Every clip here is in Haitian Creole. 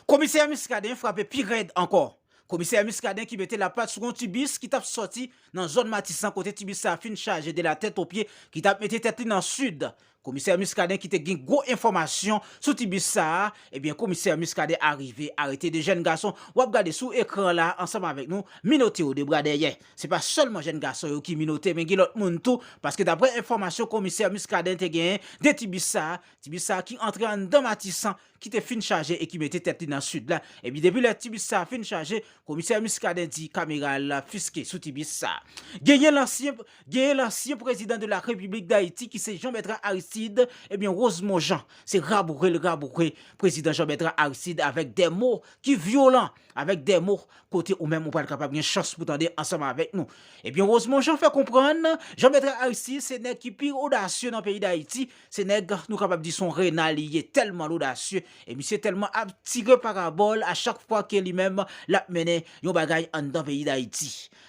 Komisè Muscadin frape pi rèd ankò. Komisè Muscadin ki mete lapat sou yon ti bis ki tap sòti nan zòn Matisan kote ti bis sa fin chaje de la tèt o pye ki tap mete tèt li nan Sid. Komisè Muscadin ki te gen gwo enfòmasyon sou ti bis sa a, ebyen Komisè Muscadin arive arete 2 jèn gason wap gade sou ekran la ansanm avèk nou minote yo de bra dèyè. Se pa sèlman jèn gason yo ki minote men gen lòt moun tou paske daprè enfòmasyon Komisè Muscadin te genyen de ti bis sa a, ti bis sa a ki antre anndan Matisan, ki te fin chaje e ki mete tèt li nan Sid la, epi depi lè ti bis sa a fin chaje, komisè Muscadin di kamera al fiske sou ti bis sa a. Genyen lansyen genyen lansyen prezidan de la Repiblik Dayiti ki se Jean Bertrand Aristide, ebyen Rosemond Jean se raboure l raboure prezidan Jean Bertrand Aristide avèk dè mo ki vyolan, avèk dè mo kote ou menm ou pral kapab gen chans pou tande ansanm avèk nou. Ebyen Rosemond Jean fè konprann Jean Bertrand Aristide se nèg ki pi odasye nan peyi Dayiti, Se nèg nou kapab di son rena li ye tèlman l odasye e misye tèlman ap tire parabò l a chak fwa ke li menm l ap mennen yon bagay anndan peyi Dayiti.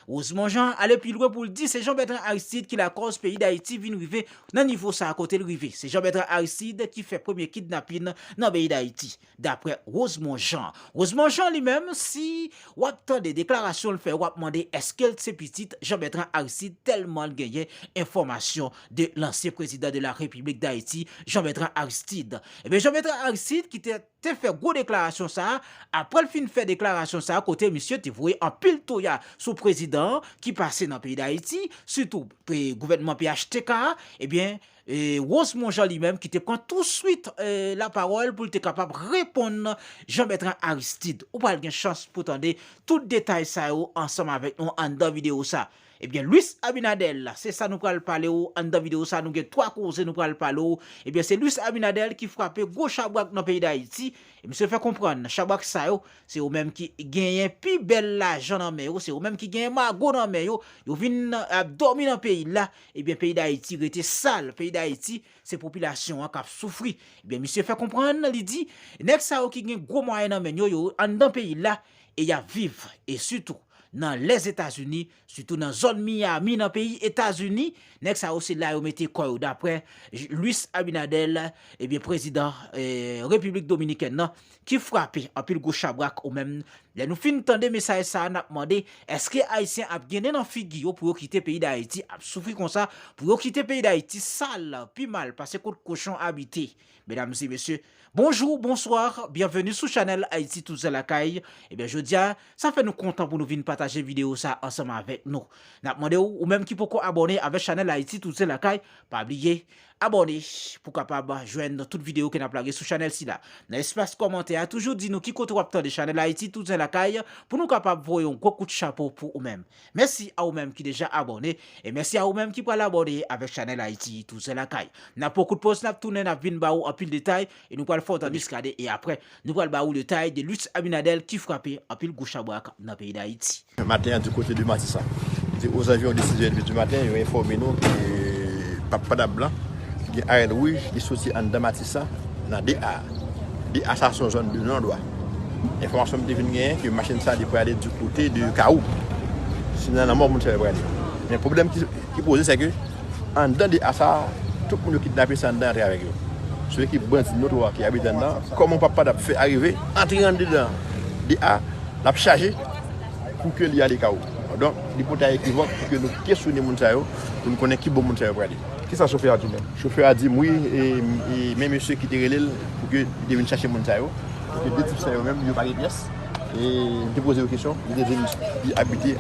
Rosemond Jean ale pi lwen pou l di se Jean Bertrand Aristide ki lakòz peyi Dayiti vin rive nan nivo sa kote l rive. Se Jean Bertrand Aristide ki fè premye kidnapin nan peyi Dayiti. Daprè Rosemond Jean. Rosemond Jean li menm si wap tande deklarasyon l fè wap mande eske l se pitit Jean Bertrand Aristide tèlman l genyen enfòmasyon de lansyen prezidan de la repiblik dayiti Jean Bertrand Aristide. Ebyen Jean Bertrand Aristide ki te te fè gwo deklarasyon sa a aprè l fin fè deklarasyon sa a kote misye te voye anpil toya sou prezidan an ki pase nan peyi dayiti sitou gouvènman phtk a ebyen Rose Monjean li menm ki te pran tou swit la pawòl pou l te kapab reponn Jean Bertrand Aristide. Ou pral gen chans pou tande tout detay sa yo ansanm avèk nou anndan videyo sa. Ebyen Luis Abinader se sa nou pral pale w anndan videyo sa nou gen 3 koze nou pral pale w. Ebyen se Luis Abinader ki frape gwo chabrak nan peyi Dayiti. E misye fè konprann chabrak sa yo se yo menm ki genyen pi bèl lajan nan men yo, se yo menm ki genyen mago nan men yo, yo vin ap dòmi nan peyi l la Ebyen peyi dayiti rete sal peyi dayiti se popilasyon an kap soufri ebyen misye fè konprann li di nèg sa yo ki gen gwo mwayen nan menn yo yo anndan peyi la e yap viv e sitou nan lès etazini sitou nan zòn miyami nan peyi etazini nèg sa yo se la yo mete kò yo daprè Luis Abinader ebyen prezidan repiblik dominikèn nan Ki frape anpil gwo chabrak ou menm lè nou fin tande mesaj sa nap mande eske ayisyen ap gen nen nan figi yo pou yo kite peyi dayiti ap soufri konsa pou yo kite peyi dayiti sal pi mal pase kot kochon abite medam e mesye bonjou bonsoir byenveni sou chanèl ayiti touzè lakay ebyen jodia sa fè nou kontan pou nou vin pataje video sa ansanm avèk nou nap mande ou ou menm ki poko abòne avèk chanèl ayiti touzè lakay pa bliye Abòne pou kapab jwenn tout video ke nap lage sou chanèl sila. Nan espas kòmantè a toujou di nou ki kote wap tande chanèl Haïti touzen lakay pou nou kapab voye yon gwo kout chapo pou ou menm. Mèsi a ou menm ki deja abòne e mèsi a ou menm ki pral abòne avèk chanèl Haïti touzen lakay. Nan pwan kout poz nap tounen nap vin ba ou anpil detay e nou pral fè yon tan miskaden e aprè nou pral ba ou detay de Luis Abinader ki frape anpil gwo chabrak nan peyi Dayiti. Maten an du kote de Matisan. Li te ozanviwon de 6 èdmi du maten yo enfòme nou ke pap Padap blan ki gen arèl wouj li soti anndan Matisan nan 2 a. 2 a sa se yon zòn de non dwa. Enfòmasyon m te vin genyen ke machin sa li prale du kote de Kawou. Se nan lanmò moun sa yo prale. Men pwoblèm ki poze se ke anndan 2 a sa tout moun yo kidnape se anndan y antre avèk yo. Se yo ki bandi notwa ki abite anndan. Kòman pap Padap fè arive antre andedan 2 a lap chaje. pou ke li ale ka ou. Donk, li pou ta ekivòk pou ke nou kesyone moun sa yo, pou nou konnen ki bò moun sa yo prale. Ki sa chofè a di menm? Chofè a di m wi, e men mesye ki te rele l pou ke li te vin chache moun sa yo, pou ke de tip sa yo menm, yo pa gen pyès. E m te poze yo kesyon, yo te di m li abite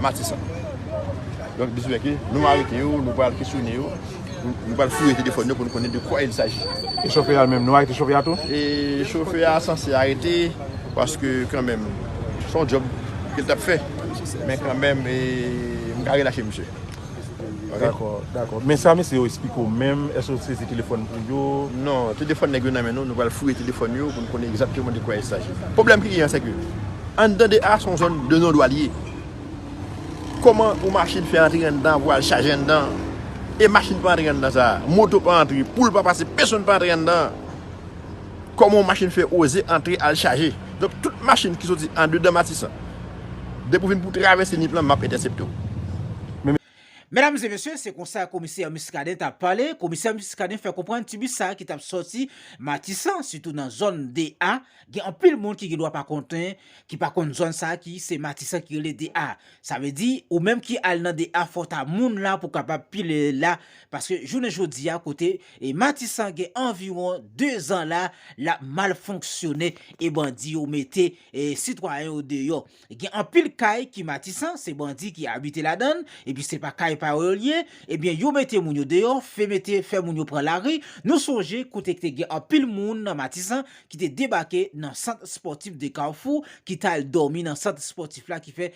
Matisan. Donk, li di m ke nou arete yo, nou pral kesyone yo. Nou pral fouye telefòn yo pou nou konnen de kwa il saji. E chofè a menm, nou arete chofè a tou? E chofè a sanse arete, paske kanmenm, se yon djòb ke li t ap fè. Men kanmenm, m ka relache misye. Dakò, dakò. Men sa mesye yo esplike w menm, èske yo sezi telefòn pou yo? Non, telefòn nèg yo nan men nou, nou pral fouye telefòn yo pou nou konnen egzakteman de kwa il saji. Pwoblèm ki genyen an, sèke anndan 2 a, se yon zòn de non dwal ye. Koman yon machin fè antre anndan pou al chaje anndan e machin pa antre anndan sa? Moto pa antre, poul pa pase, pesonn pa antre anndan. Koman yon machin fè oze antre al chaje? Donk tout machin ki soti andedan Matisan, depi w vin pou travèse Nip lan, m ap entèsepte w. Medam e mesye, se konsa komisè Muscadin ta pale, komisè Muscadin fè konprann ti bis sa ki tap sòti Matisan, sitou nan zòn 2 a, gen anpil moun ki gen dwa pa konnen, ki pa konn zòn sa ki se Matisan ki rele 2 a. Sa vle di, ou menm ki al nan 2 a fò ta moun la pou kapab pile la, paske jounen jodi a kote e Matisan gen anviwon 2 zan la, lap mal fonksyone e bandi yo mete e sitwayen yo deyò. Gen anpil kay ki matisan, se bandi ki abite ladann, epi se pa kay pa yo yo ye, ebyen yo mete moun yo deyò, fè mete fè moun yo pran lari, nou sonje kote k te gen anpil moun nan matisan ki te debake nan sant spòtif de kafou ki tal dòmi nan sant spòtif la ki fè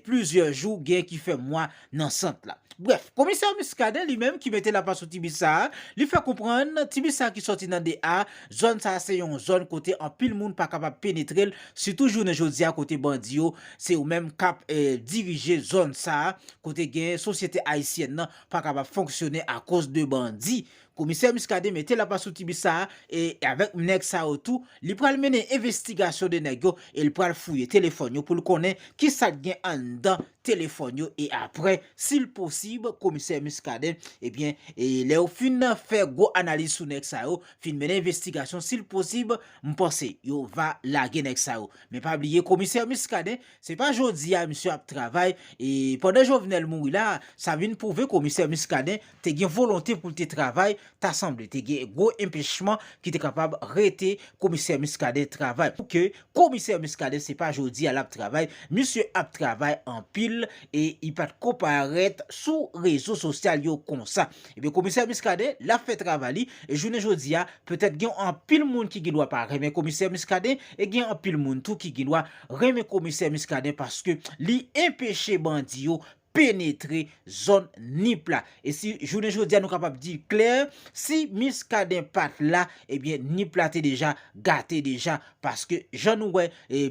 plizyè jou gen ki fè mwa nan sant la. Brèf, komisè Muscadin li menm ki mete lapat sou ti bis sa a, li fè konprann ti bis sa a ki sòti nan 2 A, zòn sa a se yon zòn kote anpil moun pa kapab penetre l, sitou jounen jodi a kote bandi yo se yo menm k ap dirije zòn sa a, kote gen sosyete ayisyèn nan pa kapab fonksyone akoz de bandi. Komisè Muscadin mete lapat sou ti bis sa a e avèk nèg sa yo tou, li pral mennen envestigasyon de nèg yo e l pral fouye telefòn yo pou l konnen ki sa k gen anndan telefòn yo e aprè sil posib komisè Muscadin ebyen lè yo fin fè gwo analiz sou nèg sa yo fin mennen envestigasyon sil posib m panse yo va lage nèg sa yo men pa bliye komisè Muscadin se pa jodi a misye ap travay e pandan Jovenel mouri la sa vin pwouve komisè Muscadin te gen volonte pou l te travay, ta sanble te gen gwo enpechman ki te kapab rete komisè Muscadin travay. Pou ke komisè Muscadin se pa jodi a l ap travay, misye ap travay anpil e li pa t ko parèt sou rezo sosyal yo konsa. Ebyen komisè Muscadin l ap fè travay li e jounen jodi a petèt gen anpil moun ki gen dwa pa renmen komisè Muscadin e gen anpil moun tou ki gen dwa renmen komisè Muscadin paske li enpeche bandi yo penetre zòn Nip la. E si jounen jodi a nou kapab di klè, si Muscadin pat la, ebyen Nip la te deja gate deja, paske jan nou wè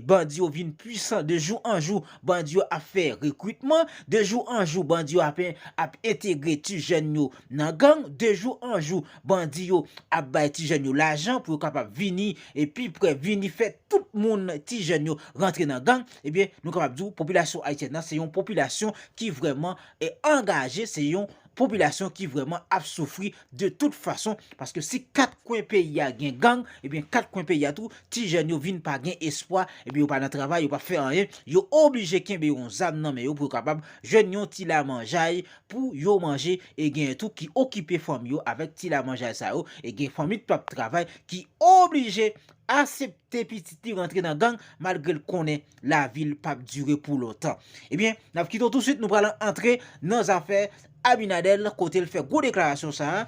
bandi yo vin pwisan de jou an jou, bandi yo ap fè rekrutman, de jou an jou bandi yo ap entegre ti jèn yo nan gang, de jou an jou bandi yo ap bay ti jèn yo lajan pou yo kapab vini pi prè, vini fè tout moun ti jèn yo rantre nan gang. Ebyen, nou kapab di w popilasyon ayisyèn nan se yon popilasyon ki vrèman angaje, se yon popilasyon ki vrèman ap soufri de tout fason, paske si kat kwen peyi a gen gang, ebyen kat kwen peyi a tou ti jèn yo vin pa gen espwa, ebyen yo pa nan travay, yo pa fè anyen, yo oblije kenbe yon zam nan men yo pou yo kapab jwenn yon ti lamanjay pou yo manje, e genyen tou ki okipe fanmi yo avèk ti lamanjay sa yo, e gen fanmi ki pap travay ki oblije asepte. te pitit li rantre nan gang malgre l konnen lavi l pap dire pou lontan. Ebyen, n ap kite w touswit nou pral antre nan zafè Abinadèl kote l fè gwo deklarasyon sa a.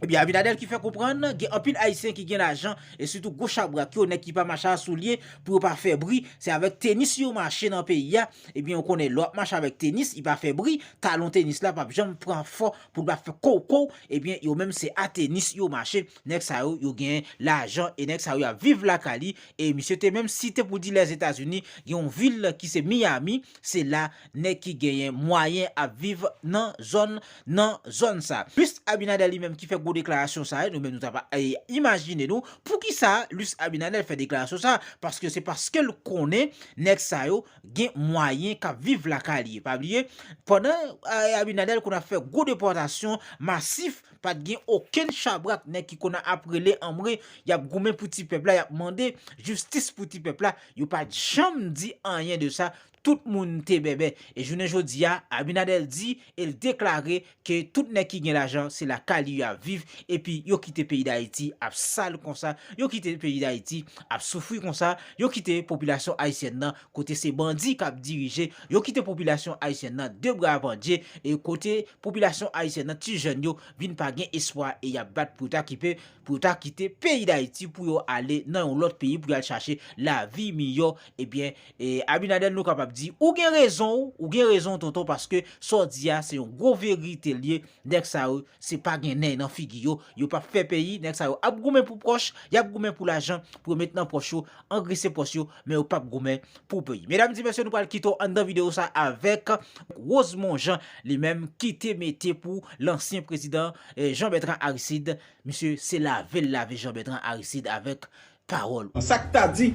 Ebyen, Abinadèl ki fè konprann gen anpil Ayisyen ki gen lajan e sitou gwo chabrak yo, nèg ki pa mache a soulye pou yo pa fè bri, se avèk tenis yo mache nan peyi a. Ebyen, ou konnen lè w ap mache avèk tenis, li pa fè bri, talon tenis la pap janm pran fò pou l pa fè kowkow, ebyen yo menm se a tenis yo mache. Nèg sa yo, yo gen lajan e nèg sa yo y ap viv lakay li e misye te menm site pou di Lèzetazini gen yon vil ki se Miyami, se la nèg ki genyen mwayen ap viv nan zòn nan zòn sa. Luis Abinader li menm ki fè gwo deklarasyon sa yo, nou menm nou ta pa imajine nou poukisa Luis Abinader fè deklarasyon sa paske se paske l konnen nèg sa yo gen mwayen k ap viv lakay li. Pa bliye pandan Abinader konn ap fè gwo depòtasyon masif, Pa t gen okenn chabrak nèg ki konn ap rele anmwe y ap goumen pou ti pèp la y ap mande jistis pou ti pèp la yo pa t janm di anyen de sa tout moun te bèbè e jounen jodi a Abinader di e l deklare ke tout nèg ki gen lajan se lakay li yo ap viv epi yo kite peyi Dayiti ap sal konsa yo kite peyi Dayiti ap soufri konsa yo kite popilasyon ayisyèn nan kote se bandi kap dirije, yo kite popilasyon ayisyèn nan de bra pandye, e kote popilasyon ayisyèn nan ti jèn yo vin pa gen espwa e yap bat pou yo ta kipe, pou yo ta kite peyi dayiti pou yo ale nan yon lòt peyi pou yal chache lavi miyò, ebyen e Abinadèl nou kapab di ou gen rezonw, ou gen rezonw tonton paske sa w di a se yon gwo verite l ye. Nèg sa yo se pa gen nèy nan figi yo, yo pap fè peyi, nèg sa yo ap goumen pou pòch, yap goumen pou lajan pou yo met nan pòch yo, angrese pòch yo, men yo pap goumen pou peyi. Medam di mesye nou pral kite w anndan video sa avèk Rosemond Jean li menm kite mete pou lansyen prezidan Jean Bertrand Aristide, misye se lave l lave Jean Bertrand Aristide avèk pawòl ou. Sa k ta di,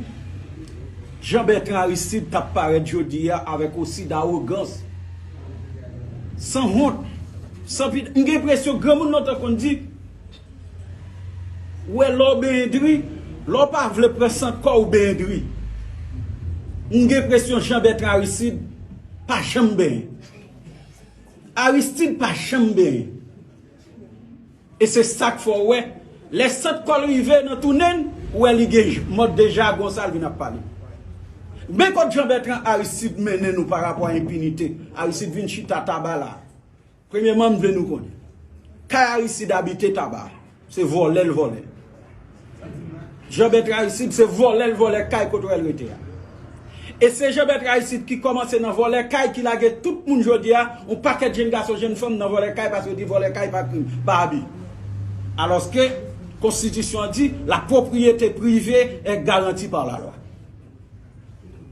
Jean Bertrand Aristide t ap parèt jodi a avèk osi dawogans, san wont, san pite. M gen enpresyon granmoun lontan konn di, Ou wè lè w benyen diri, lè w pa vle pran san kò w benyen diri. M gen enpresyon Jean Bertrand Aristide pa janm benyen. Aristide pa janm benyen. E se sak fè w wè lè sant kò l rive nan tounen n ou wè li gen mòd de jagon sa l vin ap pale. Gnen kot Jean Bertrand Aristide mennen nou pa rapò a enpinite Aristide vin chita Taba la. Premyeman m vle nou konnen kay Aristide abite Taba se vòlè l vòlè. Jean Bertrand Aristide se vòlè l vòlè kay kotoè l rete a. E se Jean Bertrand Aristide ki kòmanse nan vòlè kay ki lage tout moun jodi a, yon pakèt jenn gason jenn fanm nan vòlè kay paske yo di vòlè kay pa krim, pa abi. Alòske konstitisyon an di la pwopriyete prive è garanti par la lwa.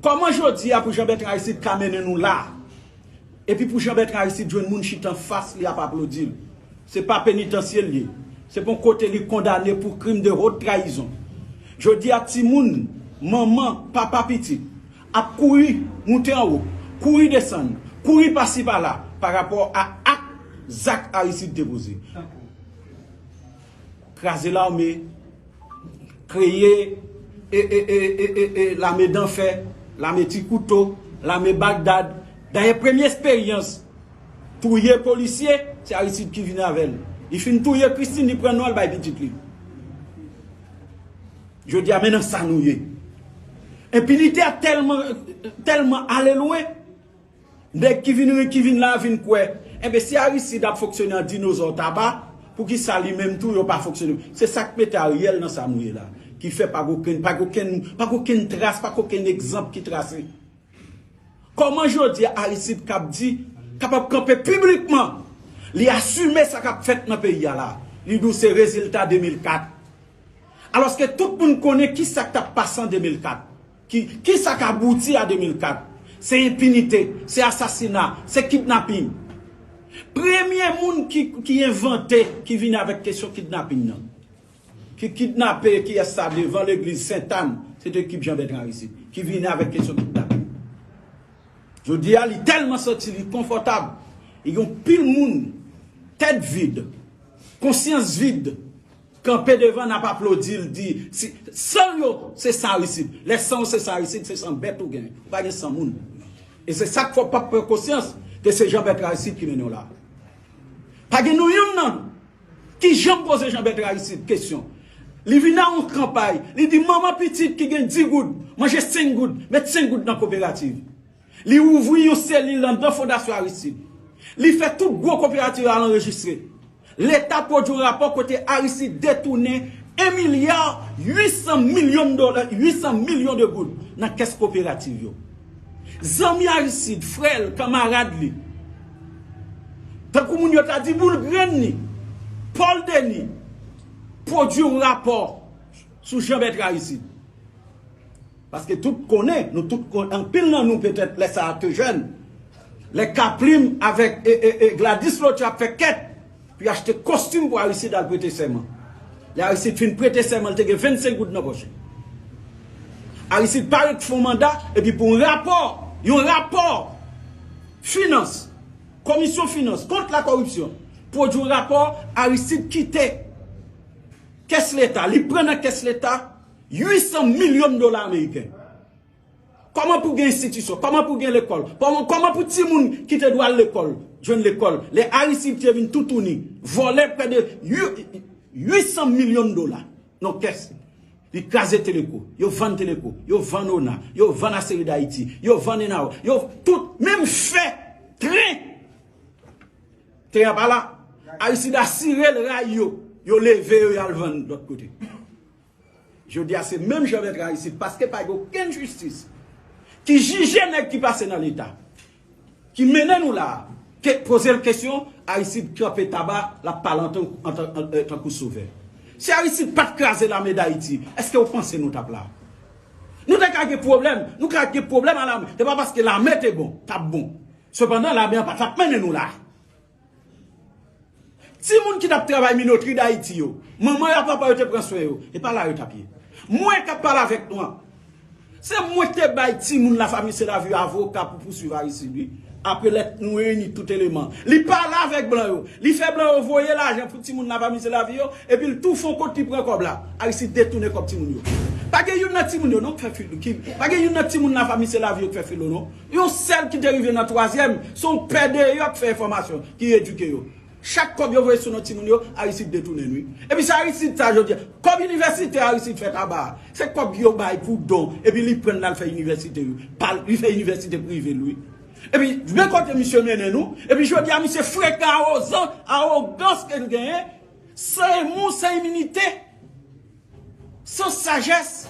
Kòman jodi a pou Jean Bertrand Aristide ka mennen nou la a? Epi pou Jean Bertrand Aristide jwenn moun chita anfas li ap aplodi l. Se pa penitansye l ye. Se pa yon kote li kondane pou krim de haute trahison. Jodi a timoun, manman, papa pitit ap kouri moute anwo, kouri desann, kouri pasi pala pa rapò a ak zak Aristide te poze. kraze lame, kreye lame danfè, lame ti kouto, lame bagdad. Dayè premye esperyans touye polisye, se Aristide ki vini avè l. Li fin touye Christine, li pran non l bay pitit li. Jodi a men nan sa nou ye. Enpinite a tèlman ale lwen, Nèg ki vin ri ki vin la vin kwè enben si Aristide ap fonksyone an dinozò taba poukisa li menm tou yo pa fonksyone se sak mete Ariel nan sa nou ye la ki fè pa gen okenn pa gen okenn pa gen okenn tras pa gen okenn egzanp ki trase kòman jodi a Aristide kab di kapab kanpe piblikman li asime sa kap fèt nan peyi a la li di w se rezilta 2004 alòske tout moun konnen ki sak tap pase an 2004. Ki sa k abouti a 2004? Se enpinite, se asasina, se kidnaping. Premye moun ki envante, ki vini avèk kesyon kidnaping nan. Ki kidnape kiyès sa devan legliz Sentàn, se te ekip Jan Bètran Aristid ki vini avèk kesyon kidnaping. Jodi a li tèlman santi li konfòtab, e gen yon pil moun tèt vid, konsyans vid, Kanpe devan nap aplodil di si san yo se sa risid lè san ou se sa risid se san bèt ou gen ou pa gen san moun e se sak fè ou pap pran konsyans ke se jan bèt raisid ki mennen w la pa gen nou youn nan nou ki janm poze jan bèt raisid kesyon li vin nan yon kanpay li di manman pitit ki gen 10 goud manje 5 goud met 5 goud nan koperativ. Li ouvri yon selil anndan Fondasyon Aristide. Li fè tout gwo koperativ al anrejistre. Leta pwodui yon rapò kote Aristide detounen 1 milya 800 milyon dola, 800 milyon de goud, nan kès koperativ yo. Zanmi Aristide, frè l, kanmarad li, tankou moun yo ta di boul grenn li, Paul Denis, pwodui yon rapò sou Jean-Bertrand Aristide. Paske tout konnen, nou tout konnen, anpil nan nou petèt lè sa a te jèn, lè K Plim avèk Gladys Lò te ap fè kèt pou y achte kostim pou Aristide al prete sèman. Lè Aristide fin prete sèman li te gen 25 goud nan pòch li. Aristide pare k fon manda epi pou yon rapò, yon rapò finans, komisyon finans kont la koripsyon pwodui yon rapò Aristide kite kès leta, li pran nan kès leta. 800 milyon dola ameriken. Kòman pou gen enstitisyon, kòman pou gen lekòl, kòman pou timoun ki te dwe al lekòl, jwenn lekòl, lè Aristide te vin toutouni, vòlè prè de 800 milyon dola nan kès li. Li kraze Teleco, yo vann Teleco, yo vann ona, yo vann Aceri d'Haiti, yo vann Enao, yo tout, menm fè, tren, te ap ala, Aristide asire l ray yo, yo leve yo y al vann lòt kote. Jodia se menm jan lèt ra isit paske pa gen okenn jistis ki jije nèg ki pase nan leta ki mennen nou la ke pozel kesyon Aristide kanpe taba lap pale antanke tankou sovè. Si Aristide pat kraze lame dayiti eske ou panse nou tap la? Nou te ka gen pwoblèm, nou ka gen pwoblèm a lame se pa paske lame te bon, tap bon. Sepandan lame an patap mennen nou la. Ti moun ki tap travay minotri dayiti yo, manman yo ak papa yo te pran swen yo, e pa la yo tap ye. Mwen kap pale avèk nou an, se mwen ki te bay ti moun lafami Selavi avoka pou pouswiv Aristide wi, apre lè nou reyini tout eleman. Li pale avèk blan yo, li fè blan yo voye lajan pou ti moun lafami Selavi yo, epi l tou fon kot li pran kòb la. Aristide detounen kòb ti moun yo. Pa gen youn nan ti moun yo non k fè filo, pa gen youn nan ti moun lafami Selavi yo k fè filo non. Yon sèl ki te rive nan twazyèm, se yon pè deyò k fè enfòmasyon, ki edike yo. Chak kòb yo voye sou non timoun yo, Aristide detounen l wi. Epi se Aristide sa jodi a. Kòb inivèsite Aristide fè tabac a, se kòb yo bay pou don, epi li pran l al fè inivèsite yo. Pa l, li fè inivèsite prive l wi. Epi, gade kote misye mennen nou, epi jodi a misye frekan awozan, awogans ke l genyen, san emou, san iminite, san sajès,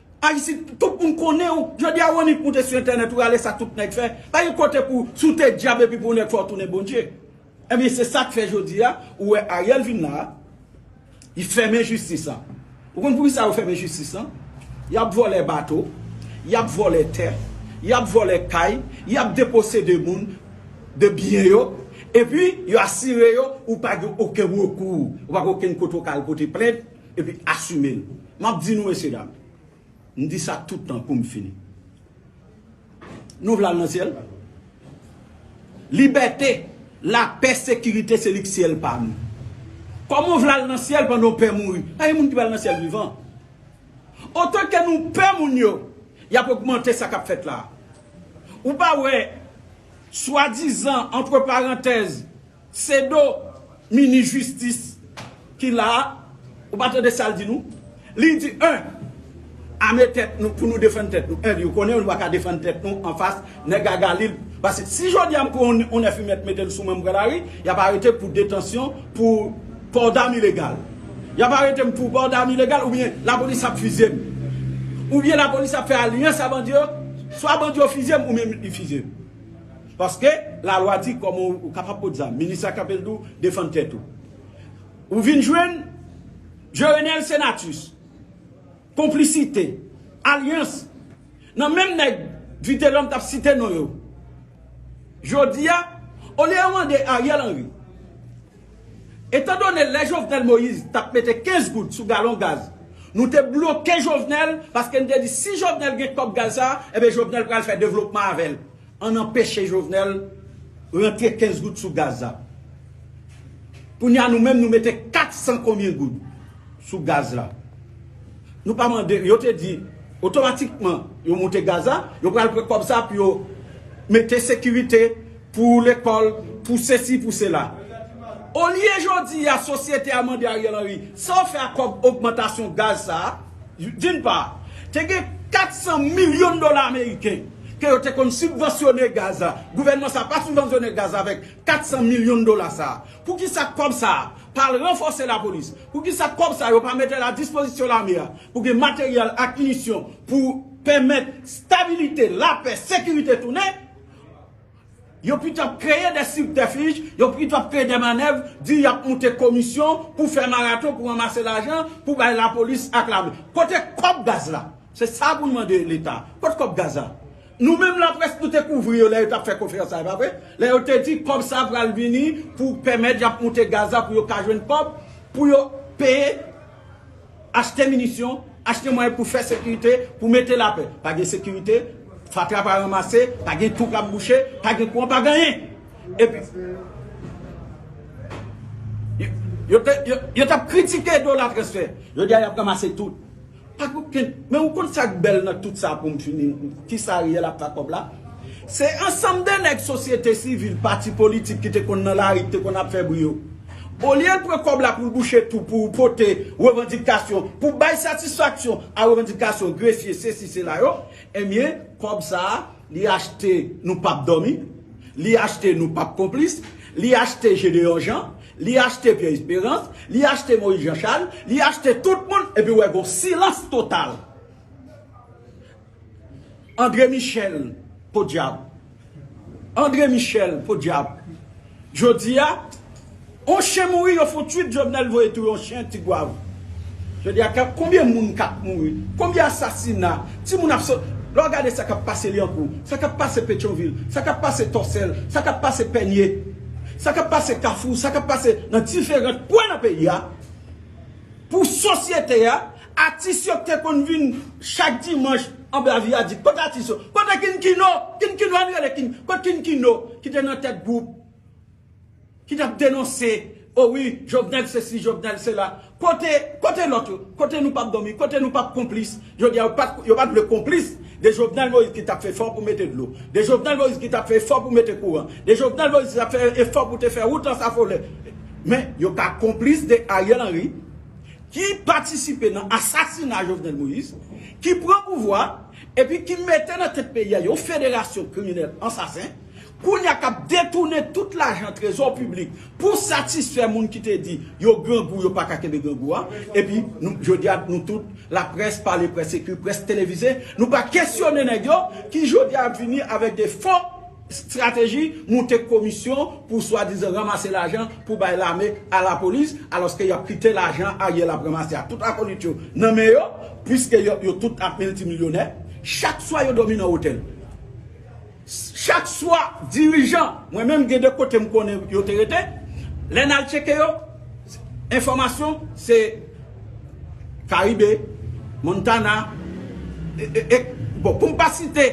Ayisyen tout moun konnen w. Jodi a ou annik moute sou entènèt ou rale sa tout nèg fè. Pa gen kote pou si w te dyab epi pou w nèg fò w tounen Bondye. Ebyen se sa k fè jodi a ou wè Ariel vin la a li fèmen jistis lan. Ou konn poukisa yo fèmen jistis lan? Y ap vòlè bato, y ap vòlè tè, y ap vòlè kay, y ap deposede moun de byen yo epi yo asire yo ou pa gen oken rekou, ou pa gen oken kote ou ka al pote plent. Epi asime l. M ap di nou mesye dam, m di sa tout tan pou m fini. Nou vle al nan syèl? Libète, lapè, sekirite se li k syèl pa nou. Kòman w vle al nan syèl pandan w pè mouri? Pa gen moun ki pral nan syèl vivan. Otan ke nou pè moun yo, y ap ogmante sa k ap fèt la a. Ou pa wè swadizan, antreparantèz, Se do minis jistis ki la a, ou pa tande sa l di nou? Li di 1. Ame tèt nou pou nou defann tèt nou. 1 di ou konnen nou pa ka defann tèt nou anfas nèg a gali l. Pase si jodi a m pran yon 9 imèt mete l sou mwen m pran lari, y ap arete m pou detansyon pou pò dam ilegal. Y ap arete m pou pò dam ilegal oubyen lapolis ap fizye m. Oubyen lapolis ap fè alyans a bandi yo, swa bandi yo fizye m oubyen li fizye m. Paske la lwa di koman ou kapab pot zam. Minis la kanpe l di w defann tèt ou. Ou vin jwenn Jerenel Senatus, konplisite, alyans nan menm nèg Vitelòm t ap site non yo. Jodi a, olye yo mande Ariel Henry, etan done lè Jovenel Moïse t ap mete 15 goud sou galon gaz, nou te bloke Jovenel paske n te di si Jovenel gen kòb gaz sa a, enben Jovenel pral fè devlopman avè l. Ann anpeche Jovenel rantre 15 goud sou gaz la. Kounya nou menm nou mete 400 konbyen goud sou gaz la. Nou pa mande, yo te di otomatikman yo moute gaz la, yo pral pran kòb sa pou yo mete sekirite pou lekòl, pou sesi, pou sela. Olye jodi a sosyete a mande Ariel Henry, sa w fè ak kòb ogmantasyon gaz sa a? D'une part, te gen 400 milyon dola ameriken ke yo te konn sibvansyone gaz la. Gouvènman sa a pa sibvansyone gaz la avèk 400 milyon dola sa a. Poukisa kòb sa a pa al ranfòse lapolis? Poukisa kòb sa a yo pa mete l a dispozisyon lame a pou gen materyèl ak minisyon pou pèmèt stabilite, lapè, sekirite tounen? Yo pito ap kreye de sibtèfij, yo pito ap kreye de manèv, di y ap moute komisyon pou fè maraton pou ranmase lajan pou bay lapolis ak lame. Kote kòb gaz la? Se sa pou n mande Leta. Kot kòb gaz la? Nou menm laprès nou te kouvri yo lè yo t ap fè konferans sa, e pa vre? Lè yo te di kòb sa pral vini pou pèmèt y ap moute gaz la pou yo ka jwenn kòb pou yo peye. Achte minisyon, achte mwayen pou fè sekirite, pou mete lapè. Pa gen sekirite, fatra pa ranmase, pa gen twou k ap bouche, pa gen kouran, pa gen anyen. Epi, yo t ap kritike dola transfè, jodi a y ap ranmase tout. Pa gen okenn, men ou konn sa k bèl nan tout sa pou m fini, ki sa Ariel ap fè ak kòb la? Se ansanm de nèg sosyete sivil, pati politik ki te konn nan lari, ki te konn ap fè bri yo. Olye l pran kòb la pou l bouche tou pou pote revandikasyon, pou bay satisfaksyon a revandikasyon grefye sesi sela yo, enbyen kòb sa a li achte nou pap dòmi, li achte nou pap konplis, li achte Jedeyon Jan, li achte Pyè Esperans, li achte Moyiz Janchal, li achte tout moun epi wè gon silans total. Andre Michel podyab Andre Michel podyab Jodia on chen mouri yo fon twit Jovenel voye touye on chen tigwav Jodia kap konbyen moun kap mouri konbyen asasina ti moun ap sot lè w gade sa kap pase lyankou sa kap pase petyonvil sa kap pase tòsèl sa kap pase pènye sa kap pase kafou sa kap pase nan diferant kwen nan peyi a pou sosyete a Atis yo kte konn vin chak dimanch anba viadik kot atis yo kote king kino king kino ann rele king kot king kino kite nan tèt group ki tap denonse o wi jovenel sesi jovenel sela kote kote lot yo kote nou pap domi kote nou pap konplis jodia yo pat yo pat vle konplis de jovenel moise ki tap fè efò pou mete dlo de jovenel moise ki tap fè efò pou mete kouran de jovenel moise ki tap fè efò pou te fè wout ansafolè men yo ka konplis de ariel henry ki patisipe nan asasina Jovenel Moïse, ki pran pouvwa a, epi ki mete nan tèt peyi a yon federasyon kriminèl ansasen, kounye a k ap detounen tout lajan trezò piblik pou satisfè moun ki te di yo grangou, yo pa ka kenbe grangou a, epi nou, jodi a, nou tout, laprès, pale près ekri, près televize, nou pa kesyone nèg yo ki jodi a ap vini avèk de fo. Strateji moute komisyon pou swadizan ranmase lajan pou bay lame a lapolis alòske y ap kite lajan Ariel ap ranmase a tout akolit yo nan men yo pwiske yo tout ap miltimilyonè chak swa yo dòmi nan otèl chak swa dirijan mwen menm gen de kote m konnen yo te rete lè n al tcheke yo enfòmasyon se Karibe, Montana, e bon poum pa site.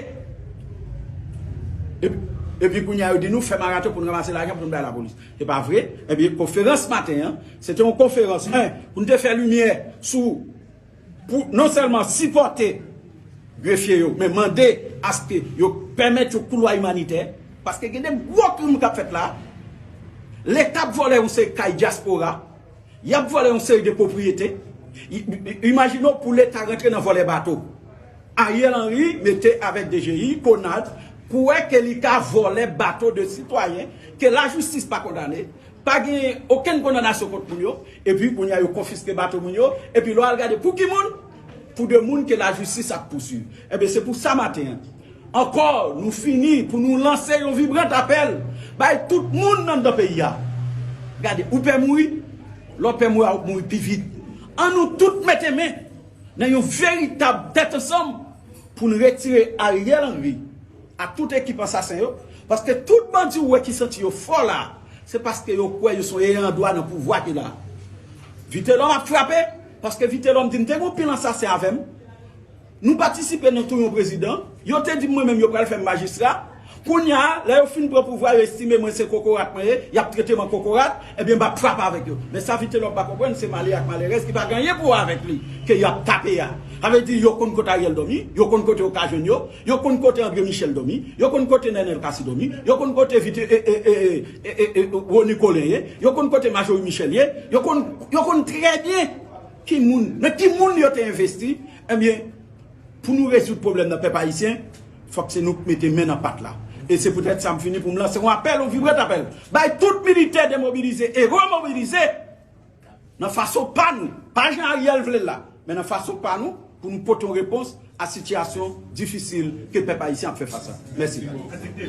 Epi kounya yo di nou fè maraton poun ranmase lajan poun bay lapolis. Se pa vre, ebyen konferans maten an, se te yon konferans 1 poun te fè limyè sou pou non sèlman sipòte grefye yo men mande aske yo pèmèt yon koulwa imanitè paske gen de gwo krim kap fèt la. Leta ap vòlè yon seri kay dyaspora. Yap vòlè yon seri de pwopriyete. Imajine w pou leta rantre nan vòlè bato. Ariel Henry mete avèk DGI, Conart pou wè ke li ka vòlè bato de sitwayen ke lajistis pa kondane, pa gen okenn kondanasyon kont moun yo, epi kounye a yo konfiske bato moun yo, epi lè w al gade pou ki moun? Pou de moun ke lajistis ap pouswiv. Enben se pou sa maten an. Ankò, nou fini pou nou lanse yon vibrant apèl bay tout moun anndan peyi a. Gade, ou pè mouri? Lè w pè mouri a, ou ap mouri pi vit. An nou tout mete men nan yon veritab tèt ansanm pou n retire Ariel Henry ak tout ekip ansasen yo, paske tout bandi ou wè ki santi yo fò la, se paske yo kwè yo se yon eyandwa nan pouvwa ki la. Vitelòm ap frape, paske Vitelòm di m te gen yon pil ansasen avè m. Nou patisipe nan tou yon prezidan, yo te di mwen menm yo pral fè m majistra, kounya lè yo fin pran pouvwa yo estime mwen se kokorat mwen ye, y ap trete m an kokorat, ebyen m ap frape avèk yo. Men sa Vitelòm pa konprann se malè ak malèrèz ki pa gen anyen pou wè avèk li ke y ap tape a. Sa vle di yo konn kote Ariel dòmi, yo konn kote yo ka jwenn yo, yo konn kote André Michel dòmi, yo konn kote Nenel Cassy dòmi, yo konn kote Rony Colin ye, yo konn kote Marjorie Michel ye, yo konn, yo konn trè byen. Ki moun, nan ki moun yo te envesti? Ebyen, pou nou rezoud pwoblèm nan pèp ayisyen, fòk se nou k mete men nan pat la. E se poutèt sa m fini pou m lanse yon apèl, yon vibrant apèl, bay tout militè demobilize e remobilize nan fason pa nou, pa jan Ariel vle l la, men nan fason pa nou, pou nou pote yon repons a sitiyasyon difisil ke pèp ayisyen ap fè fas la. Mèsi.